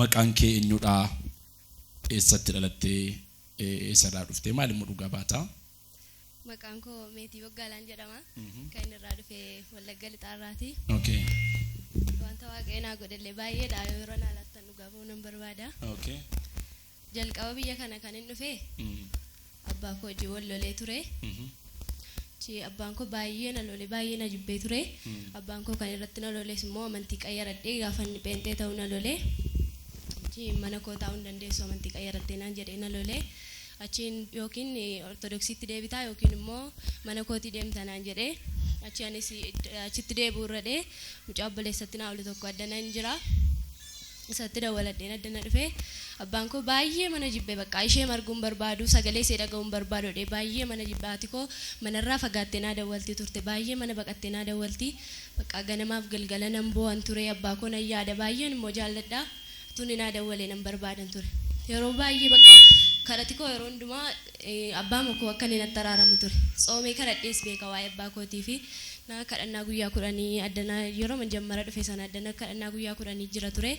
Maqaan kee enyudhaa? Eessatti dhalattee? Eessaraa dhuftee? Maal immoo dhugaa baataa? Maqaan koo Meetii Boggaalaan jedhama. Kan inni irraa dhufe Wallagga Lixaarraati. Okay. Wanta waaqayyo naa godhellee baay'eedha. Yeroo naa laattan dhugaa ba'uu nan barbaada. Okay. jalqaba biyya kana kan hin dhufe abbaa koo wajjin wal lolee ture. Achi abbaan koo baay'ee na lole baay'ee na jibbee ture. Abbaan koo kan irratti na loles immoo amantii qayyaradhee gaafa inni pheenxee ta'uu na lole. Achi mana koo taa'uu hin dandeessu amantii qayyaradhee naan jedhee na lole. Achiin yookiin ortodoksiitti deebitaa yookiin immoo mana kootii deemta naan jedhee achi anis achitti deebi'uu irra dhee mucaa obboleessatti naa olu tokko adda nan jira. isatti dawwaladheen adda na dhufe abbaan koo baay'eema na jibbe baqqaa isheema arguu hin barbaadu sagalee isee dhaga'uu hin barbaadu jedhee baay'eema na jibbe haati koo manarraa fagaattee naa dawwalti turte baay'ee mana baqattee naa dawwalti baqqaa ganamaaf galgala nan boo'an ture abbaa koo nan yaada baay'een immoo jaalladha utuu inni naa dawwalee nan barbaadan ture yeroo baay'ee baqqaa kadhati koo yeroo hundumaa Abbaa moko akka inni natti araaramu ture. Tsoomee kadhadhees beeka waa'ee abbaa kootii fi na kadhannaa guyyaa kudhanii addana yerooma jammara dhufe sana addana kadhannaa guyyaa kudhanii jira ture.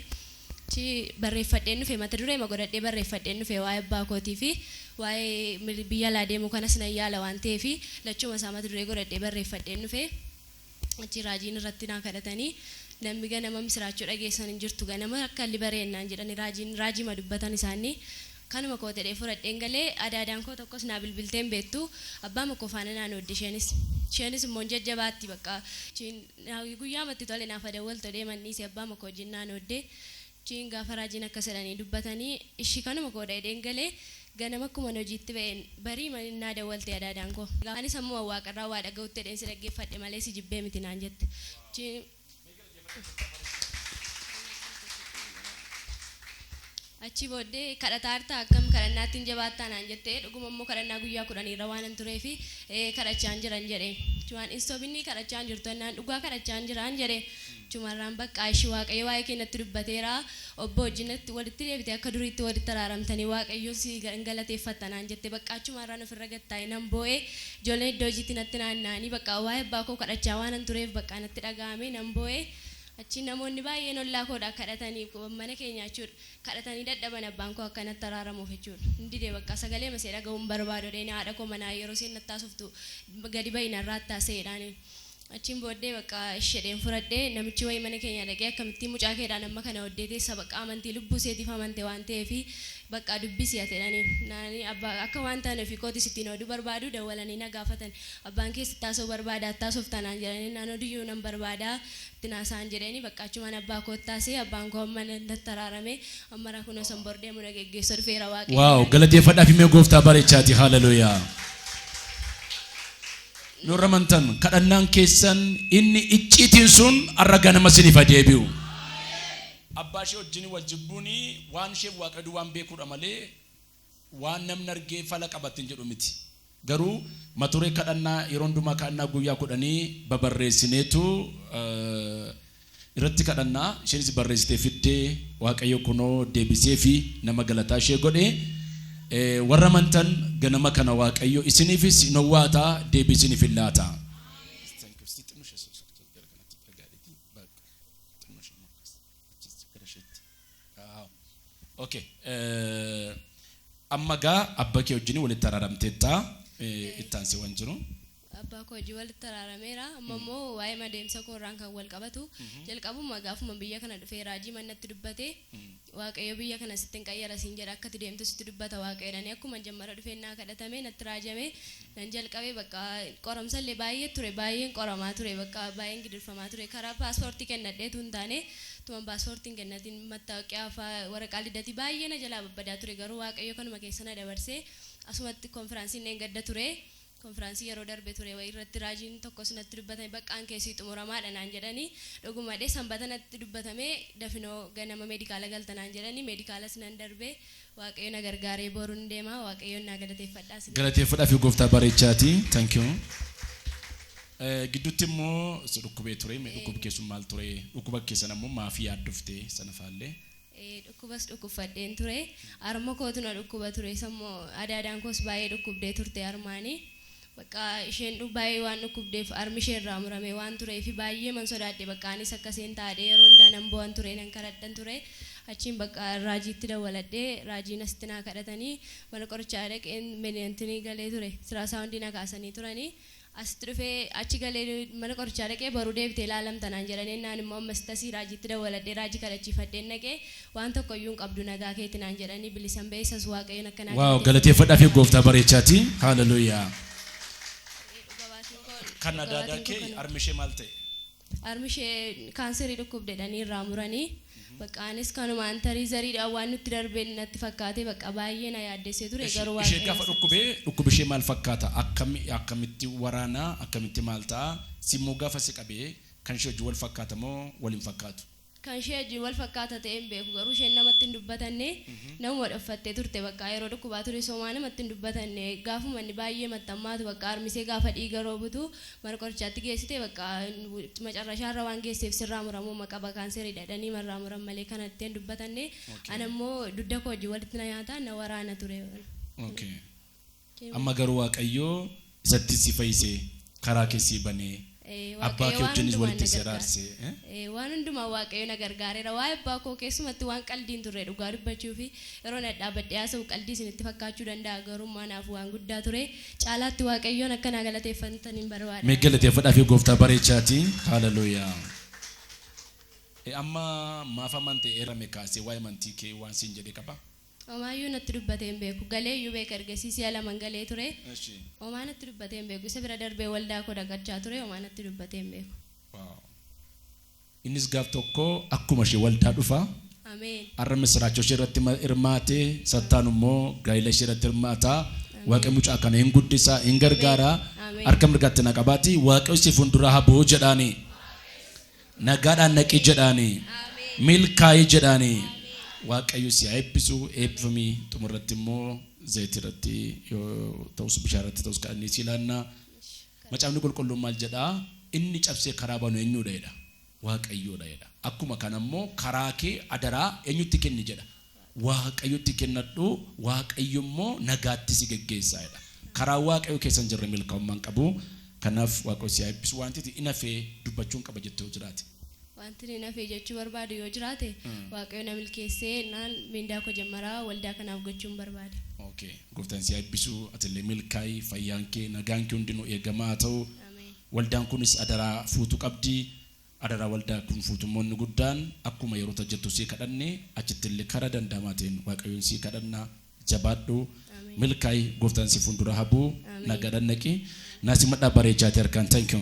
Achi barreeffadheen dhufe mata dureema godhadhee barreeffadheen dhufe waa'ee abbaa kootii fi waa'ee biyya alaa deemuu kanas nan yaala waan ta'eef lachuuma isaa mata duree godhadhee barreeffadheen dhufe. Achi raajiin irratti naa kadhatanii, Nammi ganama misiraachoo dhageessan hin jirtu, ganama akka halli bare ennaan jedhani raajiin raajiima dubbatan isaanni. Kanuma kootedhee fudhadheen gale. Adaadaan koo tokkos naa bilbiltee hin beettu. Abbaama koo faana naa noodde isheenis. Isheenis immoo hin jajjabaatti baqqa. Achiin guyyaama itti tole naaf adawwaltodhee man dhiise abbaama koo wajjin naa noodde. Achiin gaafa raajiin akkas jedhanii dubbatanii ishi kanuma koodha jedheen gale. Ganama akkuman hojiitti ba'een bariima naa dawwalte adaadaan koo. Anis ammuman waaqarraa waa dhaga'utti jedheen si dhaggeeffadhe malee si jibbee miti naan jette. Achii booddee kadhataa jirtaa akkam kadhannaatti hin jabaattaa naan jette. Dhuguma immoo kadhannaa guyyaa kudhaniirra waanan tureef ee kadhachaan jiran jedheen. Achumaan hin sobinii kadhachaan jirtu jennaan dhugaa kadhachaan jiraan jedheen. Jumarraan baqqaa ishi waaqayyo waa'ee kee natti dubbateera obboo wajjin natti walitti deebite akka duriitti walitti araaramtanii waaqayyoon si hin galateeffatta naan jette baqqaa achumaarraan ofirra gad taa'e nan boo'e ijoolleen iddoo hojiitti natti naanna'anii baqqaa waa'ee abbaa koo kadhachaa waanan tureef baqqaa natti dhaga'ame nan boo'e achiin namoonni baay'een ollaa koodha kadhatanii mana keenyaa jechuudha kadhatanii dadhaban abbaan koo akka natti araaramuuf jechuudha hin dide baqqaa sagaleema ishee dhaga'uu hin barbaadu jedheen haadha koo manaa yeroo isheen natti haasoftu gadi ba'i narraa attaasee jedhaaniin Achiin booddee baqqa ishi jedheen fudhadhe. Namichi wayii mana keenya dhaqee akkamittiin mucaa keedhaan amma kana oddee teessa baqqa amantii lubbuu iseetiif amante waan ta'eef baqqa dubbisi ati jedhaniin. Naani abba akka waan taane ofii kootiis ittiin ooduu barbaadu dawwalanii na gaafatan. Abbaan kees itti haasa'uu barbaada atti haasofta naan jedhanii innaan oduyyuu nan barbaada itti na haasa'an jedheeni baqqa achumaan abbaa kootti haasa'e abbaan koo amma natti araarame ammara kunoo isan bor deemu na geggeessa dhufeera Waaqayyo Wow, galateeffadhaa fi mee gooftaa bareechaati. Hallelujah. Yoo irra amantan kadhannaan keessan inni icciitiin sun har'a ganama isiniif haa deebi'u. Abbaa ishee wajjin wal jibbuun waan isheef Waaqayyo duwwaan beekuudha malee waan namni argee fala qabattiin jedhu miti. Garuu maturee kadhannaa yeroo hundumaa kadhannaa guyyaa kudhanii babarreessineetu irratti kadhannaa isheenis barreessitee fidde Waaqayyo kunoo deebisee fi nama galataa ishee godhe warra amantan ganama kana Waaqayyo isiniifis hin owwaata deebii isiniif hin laata. Okay. Amma gaa abba kee wajjin walitti araaramteetta itti aansee waan jiru. Abbaa koo wajjin walitti araarameera. Amma immoo waa'ee adeemsa koo irraan kan wal qabatu jalqabuma gaafuma biyya kana dhufee raajii mannatti dubbate waaqayyo biyya kana sitti hin qayyara siin jedha akkati deemtu sitti dubbata waaqayyoodhani akkuma jammara dhufeen naa kadhatame natti raajame nan jalqabe bakka qoramsa illee baay'ee ture baay'een qoramaa ture bakka baay'een gidirfamaa ture karaa paaspoortii kennadheetu hin taane tuman paaspoortii hin kennatiin mattaaqiyaa fa'aa waraqaa lidatii baay'ee na jalaa babbadaa ture garuu waaqayyo kanuma keessa na dabarsee asumatti konfiraansiin dheengadda ture. Konfiraansii yeroo darbe ture wayii irratti raajiin tokkos natti dubbatame baqqaan kee sii xumuramaadha naan jedhani dhugumadhe sanbata natti dubbatame dafinoo ganama meedikaala galta naan jedhani meedikaalas nan darbe waaqayyo na gargaaree borun deema waaqayyoon naa galateeffadha isiniin jedha. Galateeffadhafi gooftaa bareechaati thank you Gidduutti immoo si dhukkubee ture mee dhukkub kee sun maal ture dhukkuba kee sana immoo maaf yaaddofte sana faallee. Dhukkubas dhukkubfadheen ture. Harma kootu na dhukkuba ture. Sammoo adaadaan koos baay'ee dhukkubdee turte harmaani. Bakka isheen baay'ee waan dhukkubdeef harmi ishee irraa muramee waan tureef baay'eeman sodaadhe bakka anis akka isheen taadhee yeroo hundaa nan boo'an ture nan kadhadhan ture. Achiin bakka raajiitti dawwaladhee raajiin asitti naa kadhatanii mana qorichaa dhaqeen meniantini galee ture. Siraasaawundii na kaasanii turani. Asitti dhufee achi galee mana qorichaa dhaqee boru deebitee ilaalamta naan jedhanii ennaan immoo ammasitti asii raajiitti dawwaladhee raajii kadhachiifadheen dhaqee waan tokko iyyuu hin qabdu nagaa keeti naan jedhanii bilisan ba'e isas waaqayyoon akka naa Waaw galateeffadhaa fi gooftaa bareechaati. Haaleluyyaa. Dhuga baatiin koo Kan dhuga adaadaa baatiin koo kee kana. harmi ishee maal ta'e? Harmi ishee kaanserii dhukkubde jedhanii irraa muranii. Bakka anis kanumaan tarii zariidhaan waan nutti darbe natti fakkaatee bakka baay'ee na yaaddessee ture Eshi garuu ishee waaqayyo gaafa isa dhukkube tasise. dhukkubi ishee maal fakkaata akkami akkamitti waraana akkamitti maal ta'a simmoo gaafa si qabe kan ishee wajjin wal fakkaata moo wal hin fakkaatu. Kan ishee wajjin wal fakkaata ta'ee hin beeku garuu isheen namatti hin dubbatanne namuma dhoffattee turte baqqaa yeroo dhukkubaa tures homaa namatti hin dubbatanne gaafuma inni baay'ee matti hammaatu baqqaa harmisee gaafa dhiiga roobutu mana qorichaatti geessite baqqaa macarrashaa irra waan geesseef sirraa muramuuma qaba kaanseridha jedhanii marraa muran malee kana itti hin dubbatanne Okay. ana immoo dugda koo wajjin walitti na nyaata na waraana ture. Okay. Amma garuu Waaqayyo isatti si fayyise, karaa kee sii banee, abbaa kee wajjinis walitti si araarse. Waan hundumaan Waaqayyo na gargaareera. Waa'ee abbaa koo keessumatti waan qaldii hin turre dhugaa dubbachuuf. Yeroon dhadhaabadhee haasa'u qaldii isinitti fakkaachuu danda'a garuu immoo anaaf waan guddaa ture. Caalaatti Waaqayyoon akka naa galateeffattaniin barbaada. Mee galateeffadhaafii gooftaa bareechaatii. Haaleluyyaa. Amma maaf amante eerame kaasee waa'ee amantii kee waan siin jedhe qaba? Omaayyuu natti dubbatee hin beeku. Galee iyyuu beeka ergasii si'a laman galee ture. Eshi. Omaa natti dubbatee hin beeku. Isa bira darbee waldaa koo dhaqachaa ture. Omaa natti dubbatee hin beeku. Wow. Innis gaaf tokko akkuma ishee waldaa dhufa. Ameen. Har'a misiraachoo ishee irratti ma- hirmaate, sattaan immoo gaa'ila ishee irratti hirmaata. Waaqayyo mucaa kana hin guddisa, hin gargaara. Ameen. Harka mirgaatti na qabaati. Waaqayyo si fuuldura haa bu'u jedhaani. Nagaadhaan dhaqi jedhaani. Milkaa'i jedhaani. Waaqayyo si haa eebbisu. Eebbifami. Xumurratti immoo zayitii irratti yoo ta'us bishaan irratti ta'us kadhannee si ilaanna. Macaafni qulqulluun maal jedhaa? Inni cabsee karaa banu eenyudha jedha? Waaqayyoodha jedha. Akkuma kana immoo karaa kee adaraa eenyutti kenni jedha? Waaqayyotti kennadhu, Waaqayyo immoo nagaatti si geggeessa jedha. Karaa Waaqayyo keessa hin jirre milkaa'ummaa hin qabu. Kanaaf Waaqayyo si haa eebbisu. Wanti ati hin hafe dubbachuun qaba jette yoo jiraate? Wantin hin hafe jechuu barbaadu yoo jiraate, Waaqayyo na milkeessee jennaan mindaa koo jammaraa waldaa kanaaf gochuun barbaada. Okay. Gooftaan si haa eebbisu, ati illee milkaa'i, fayyaan kee, nagaan kee hundinuu eegamaa haa ta'u. Ameen. Waldaan kunis adaraa fuutu qabdi. Adara walda kun fuutummoonni guddaan akkuma yerota jettu sii kadhanne achittille kara danda'amaa ta'een waaqayyoon sii kadhanna jabaadhu milkaa'i gooftaan si fuundura habu nagaadhan dhaqi naa simadhaa bareechaati harkaan thank you.